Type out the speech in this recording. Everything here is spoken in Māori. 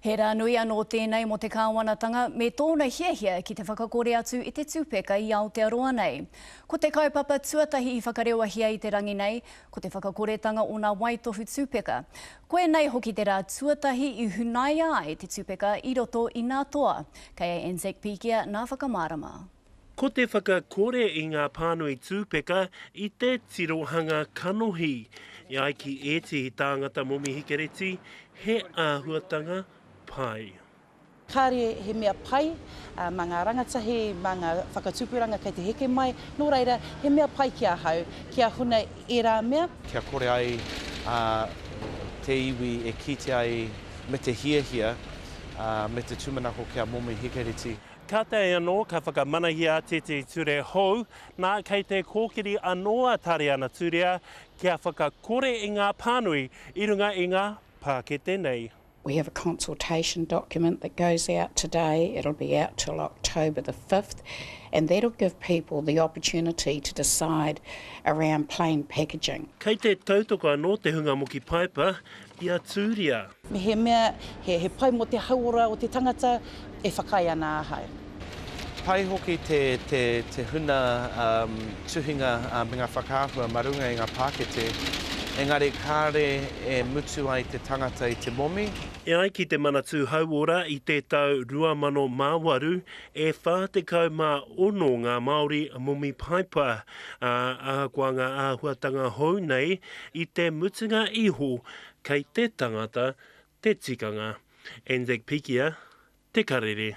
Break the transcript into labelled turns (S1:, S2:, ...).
S1: He rā nui anō tēnei mō te kāwanatanga me tōna hiahia ki te whakakore atu i te tupeka i Aotearoa nei. Ko te kaupapa tuatahi i whakarewahi ai te rangi nei, ko te whakakoretanga o nā waitohu tupeka. Koinei hoki te rā tuatahi i hunaia ai te tupeka i roto i nā toa, kei a Anzac Pikia nā whakamārama. Ko te
S2: whakakore i ngā pānui tūpeka i te tirohanga kanohi. E ai ki ētehi tāngata momi hikereti, he āhuatanga pai. Kāre
S3: he mea pai mā ngā rangatahi, mā ngā whakatupuranga kei te heke mai, nō reira, he mea pai ki ahau kia huna ērā mea. Kia kore ai
S4: te iwi e kitea ai me te hiahia me te tūmanako ki a momi hikereti. Kātahi anō
S2: ka whakamanahia atu te ture hou, nā, kei te kōkiri anō a Tariana Turea kia whakakore i ngā pānui i runga i ngā pākete nei. We have a
S5: consultation document that goes out today, it'll be out till October the fifth, and that'll give people the opportunity to decide around plain packaging. Kei te tautoko
S2: anō te hunga moki paepa, I a Tūria. Mehemea
S3: he, he pai mō te hauora o te tangata, e whakaae ana ahau. Pai
S4: hoki te, te, te huna um, tuhinga uh, me ngā whakaahua ma runga i ngā pākete, engari kāre e mutu ai te tangata i te momi. E ai ki te
S2: Manatū Hauora i te tau 2008, e 46 ngā Māori momi paipa, ā, ahakoa ngā āhuatanga hou nei, I te mutunga iho kei te tangata te tikanga, and the pikia te karere.